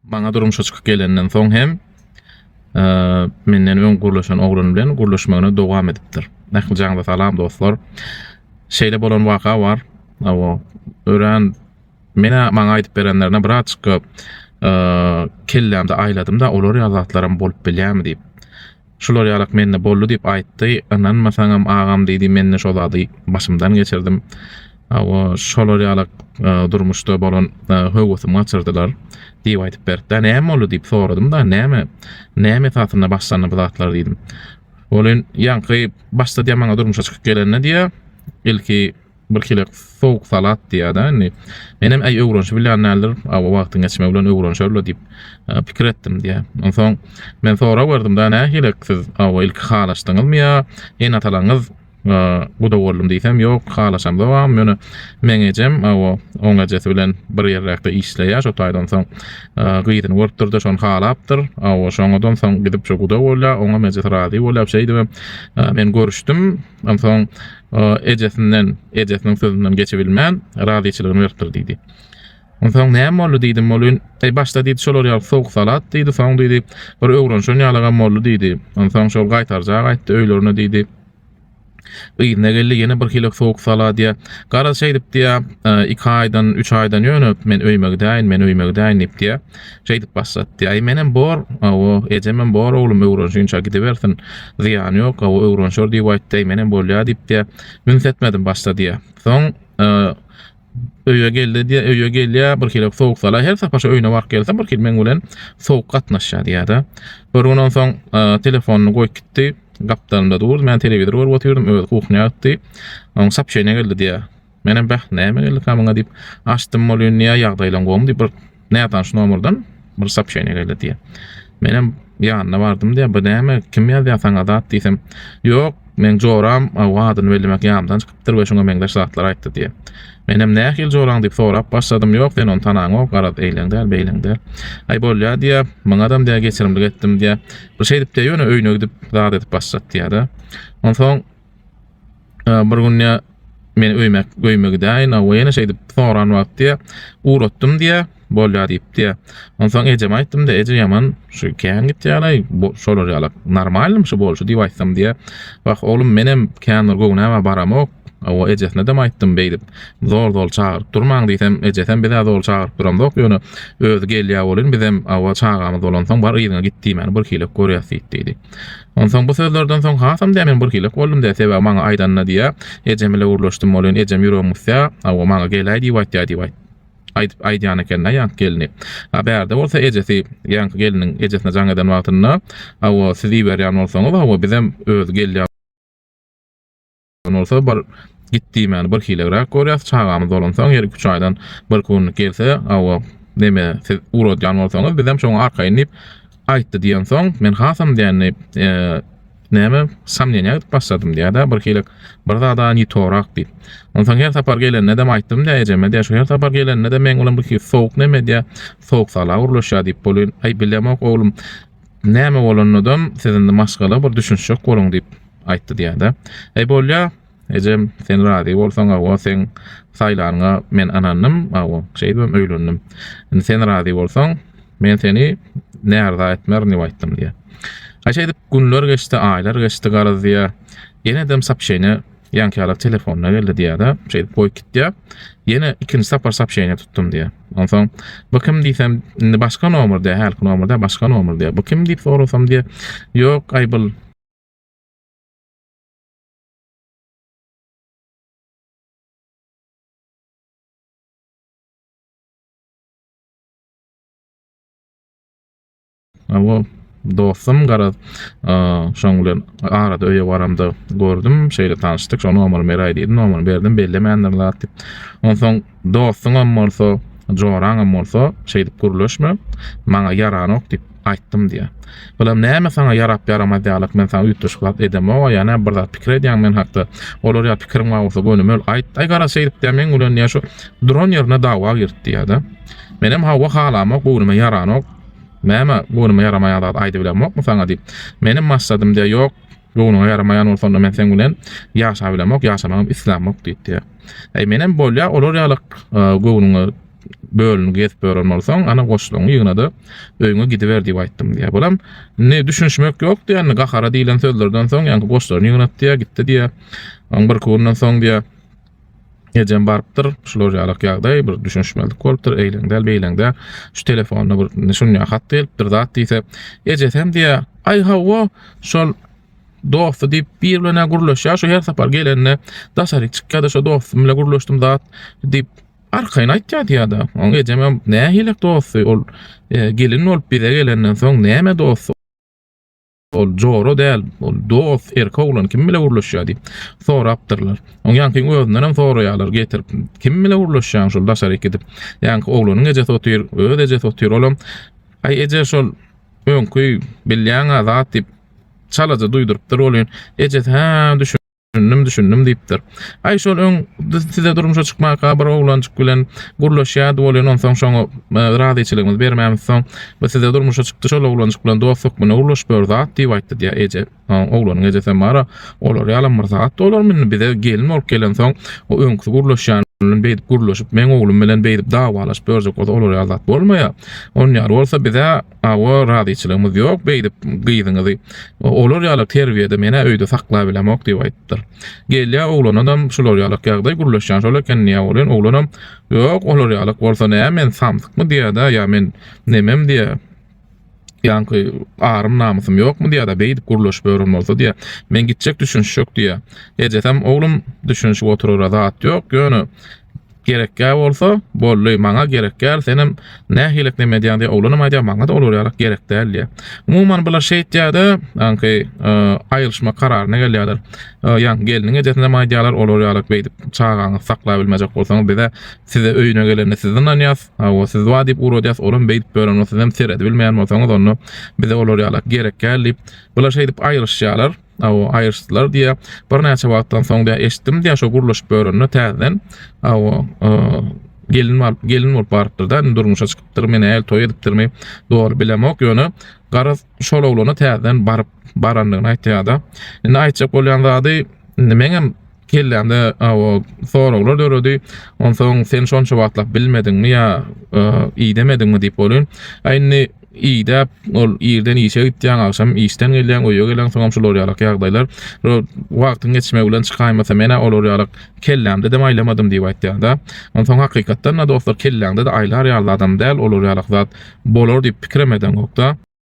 Maňa durmuşa çykyp gelenden soň hem menden öň gurlaşan oglan bilen gurlaşmagyny dowam edipdir. Nähili jaňda salam dostlar. Şeýle bolan waka bar. Awa, örän menä maňa aýdyp berenlerine birazçyk kellämde aýladym-da, olar ýaly zatlaram bolup bilýärmi diýip. Şular ýalak mende boldy diýip aýtdy. Ynanmasaňam agam diýdi mende şo zady başymdan geçirdim. Hawa şolar ýalak e, durmuşda bolan e, höwesim gaçyrdylar diýip aýdyp berdi. Näme boldy diýip soradym da näme näme esasynda başlandy bu zatlar diýdim. Olin ýaňky başda diýä maňa durmuşa çykyp gelende diýä ilki Birhili sowuk salat diýýär-dä indi. Menem äý öwrenişip bilýän däldir, awa wagtyň geçmegi bilen öwrenişer-le diýip pikir etdim diýýär. Onsoň men sorag berdim-dä, nähili, siz awa ilki halaşdyňyzmy ýa ene-atalaryňyz guda boldum diýsem, ýok, halaşamzogam, ýöne meň ejem, awa, oň ejesi bilen bir ýerräkde işleýär, şo taýdan soň gyzyny görüpdir-de, şony halapdyr, awa, şoňadan soň gidip şu guda bolýar, oňam ejesi razy bolýar, şeýdibem men görüşdim. Onsoň ejesinden, ejesiniň sözünden geçibilmän, razyçylygyny beripdir diýdi. Onsoň näme boldy diýdim, Molyn, eý başda diýdi şolar ýaly sowuk salat diýdi, soň diýdi bir öwrenşen ýalygam boldy diýdi. Onsoň şol gaýtarjak aýtdy öýlerine diýdi. Yzyna geldi ýene bir hilek sowuk salat diýä. Garaz şeýdip diýä, iki aýdan, üç aýdan ýöne men öýüme gidäýin, men öýüme gidäýin diýip diýä. Şeýdip başlatdy. Aý, menem bor. Hawa, ejemem bor, oglum öwrenşinçä gidibersin. Zyýany ýok, hawa, öwrenşer diýip aýtdy-aý, menem bolýa diýipdi-ä. Üns etmedim başda diýýär. Soň öýe geldi diýýär, öýe gelýär, birhili sowuk sala, her sapar şo öýüne baryp gelsem, birhili meň bilen sowuk gatnaşýar diýýär-de. Bir gün onsoň telefonyny goýup gitdi. Gapdalymda durdy, men telewizor görüp otyrdym, özi kuhnýa gitdi. Oň sapşeniýa geldi diýýär. Menem bäh, näme geldi kamyňa diýip, açdym ol ýa ýagdaýlaň gowumy diýip bir nätanyş nomerden bir sopşeniýa geldi diýýär. Menem ýanyna bardym diýýär, bu näme, kim ýazýar saňa zat diýsem, ýok, meň joram aw adyny bellemek ýamdan çykypdyr we şuňa meňzeş zatlar aýtdy diýýär. Menem nähili joraň diýip sorap başladym, ýok, sen ony tanaňok, garaz, eýleň däl, beýleň däl. Aý bolýar diýýär, muňadam diýýär geçirimlik etdim diýýär. Bir şeýdip diýýär, ýöne öýüne gidip zat edip başlat diýýär-de. Onsoň Bir gün ya men öýmek öýme gidäýin awa ýene şeýdip soran wagty uratdym diýä bolýar diýip diýä onsoň ejeme aýtdym da eje ýaman şu kän gitýärlaý şolar ýala normalnym şu bolşy diýip aýtsam diýä wah oglum menem kän bir göwnäme baramok awa ejesine dem aýtdym beýdip zor zor çagyryp durmaň diýsem ejesem bizä zor çagyryp duramzok ýöne özi gelýä bolyn bizem awa çagamyz bolansoň bar yzyňa git diýmäni bir hilek görýäs diýip diýdi Onsoň bu sözlerden soň hasam-da men birhili boldum-da, sebäbi maňa aýdanyna diýýä, ejem bile gürleşdim, ol ýene ejem ýüregimi gysýa, Hawa, maňa gel-aý diýip aýtýa diýip aýdyp aýdýan eken-ä ýaňky gelni. A bärde bolsa ejesi, ýaňky gelniň ejesine jaň eden wagtynda, Hawa, siz iberýän bolsaňyz, hawa, bizem özi gelýä, Ýöne bolsa bir git diýmäni bir hilegräk görýäs, çagamyz bolansoň her iki-üç aýdan bir künlik gelse, Hawa, neme, siz ugradýan bolsaňyz, bizem şoňa arkaýyn diýip aýtdy diýensoň, men hasam dändi, näme, somneniýa gidip başladym diýýär-dä, birhili bir zad-a ni torak diýip. Onsoň her sapar gelende-dem aýtdym-da ejeme-de, şu her sapar gelende-de meň bilen birhili sowuk neme diýýär, sowuk sala gürleşýär diýip bolýan. Aý, bilemok, oglum, Näme bolanydam siz indi maşgala bir düşünişjek boluň diýip aýtdy diýýär-de. Eý bolýa, ejem sen razy bolsaň awa seň saýlanyňa men ynandym, awa şeýdibem öýlendim. Indi sen razy bolsaň men seni närza etmerin diýip aýtdym diýýär. Ha şeýdip günler geçdi, aýlar geçdi garaz diýýär. Ýenedem sapşeýne ýaňky ýala telefonyna geldi diýýär-de, şeýdip goýup gitýär. Ýene ikinji sapar sapşeýne tutdum diýýär. Onsoň bu kim diýsem, indi başga nomer diýýär, hälki nomerde başga nomer diýýär. Bu kim diýip sorasam diýýär, ýok, aý bul Awa dostum garaz şoň bilen arada öýe baramda gördüm şeýle tanyşdyk şoň nomer beräý diýdi nomer berdim bellemändir zat diýip onsoň dostuňam bolsa joraňam bolsa şeýdip gürleşme maňa ýaranok diýip aýtdym diýýär bulam näme saňa ýarap ýaramaz ýalyk men saňa üýtgeşik zat edemok ýa bir zat pikir edýäň men hakda olar ýa pikiriň bar bolsa gönüm öl aýt aý garaz şeýdip diýýär meň bilen ýa şu duran ýerine dawa girt diýýär-de menem hawa halamok göwnüme ýaranok Näme, göwnüme ýaramaýan zat aýdybilemokmy saňa diýip, meniň maksadym diýýär, ýok, göwnüňe ýaramaýan bolsa onda men seň bilen ýaşabilemok, ýaşamagam islämok diýip diýýär. Äý, menem bolýa, olar ýaly göwnüňe bölünip gezip ýören bolsaň, ana goşlaryňy ýygna-da, öýüňe gidiber diýip aýtdym diýýär. Bulam, indi düşünişmek ýok diýýär, indi gahara diýlen sözlerden soň, ýaňky goşlaryny ýygnat diýýär, gitdi diýýär. Oň birki günden soň diýýär, Ejem barypdyr, şular ýalak ýagdaý, bir düşünişmezlik bolupdyr, eýleň däl, beýleň däl, şu telefonda bir düşünýär, hat gelipdir, zat diýse, ejesi hem diýýär, Aý hawa, şol dosty diýip, bir bilen-ä gürleşýär, şu her sapar gelende, daşaryk çykýar-da, şo dostum bilen gürleşdim, zat diýip, arkaýyn aýtýar diýýär-de. Oň ejem hem, Nähili dosty, ol gelin bolup bize gelenden soň näme dosty? Ol jora däl, ol dost, erkek oglan kim bile gürleşýär diýip, sorapdyrlar. Oň ýaňky özünenem soraýarlar getirip, kim bile gürleşýäň şol daşaryk gidip. Ýaňky oglanyň ejesi otyr, öz ejesi otyr, olam, Aý eje şol öňki bilýäň-ä zat diýip, çalaja duýdurypdyr, ol ýene ejesi, Hä, düşün. Düşündim, düşündim diýipdir. Aý şol öň size durmuşa çykmaka bir oglanjyk bilen gürleşýärdi bolýan, onsoň şoňa e, razyçylygymyzy bermämiz soň bu size durmuşa çykdy şol oglanjyk bilen dost hökmünde gürleşip ýör zat diýip aýtdy diýýär eje. Oglanyň ejesi hem bara olar ýalam bir zat olar indi bize gelin bolup gelen soň o öňki gürleşýän bilen beýdip gürleşip meň oglum bilen beýdip dawalaşyp ýörjek bolsa olar ýaly zat bolmaýar. Onýar bolsa bize Hawa, razyçylygymyz ýok beýdip gyzyňyzy. Olar ýaly terbiýede men-ä öýde saklap bilemok diýip aýdypdyr. Gelýär oglanadam şular ýaly ýagdaý gürleşýän şol eken diýýär welin oglanam Ýok, olar ýaly bolsa nä men samsykmy diýýär-de ýa men nemem diýýär. Ýaňky arym-namysym ýokmy diýýär-de beýdip gürleşip ýören bolsa diýýär. Men gitjek düşünişjek diýýär. Ejesem Oglum düşünişip oturara zat ýok, ýöne Gerekgä bolsa, boldy, maňa gerek däl, senem nähilik neme edýäň diýýär, oglanam aýdýar, maňa-da ol ýaly gerek däl diýýär. Umuman, bular şeýtýär-de, aňky aýrylyşmak kararyna gelýärler. Ýa gelniň ejesinäm aýdýarlar, olar ýaly beýdip çagaňyzy saklabilmejek bolsaňyz, bize size öýüne gelende sizi ynanýas, hawa, siz bar diýip ugradýas, olam beýdip bören bolsa, sizem seredibilmeýän bolsaňyz, onda bize olar ýaly gerek däl diýip, bular şeýdip aýrylyşýarlar. Aw aýryşdylar diýýär. Birnäçe wagtdan soň diýýär eşitdim diýýär şo gurlaşyp ýörende täzeden aw gelin bolup gelin bolup barypdyr da indi durmuşa çykypdyr men äl toý edipdirmi dogry bilemok ýöne garaz şol oglana täzeden baryp barandygyny aýtýar da indi aýtjak bolýan zady indi meňem Kellämde o soraglar döredi. Onsoň sen şonça wagtlap bilmediňmi ýa idemediňmi diýip bolýar. A indi idäp ol irden işe gitýäň, agşam işden gelýäň, öýe geleň, soňam şular ýalak ýagdaýlar. Ro wagtyň geçmegi bilen çykaýmasa men-ä olar ýalak kellämde-dem aýlamadym diýip aýtýar-da. Onsoň hakykatdan-da dostlar kelläňde-de aýlar ýaly zadam däl, olar ýalak zat bolar diýip pikirem edeňokda.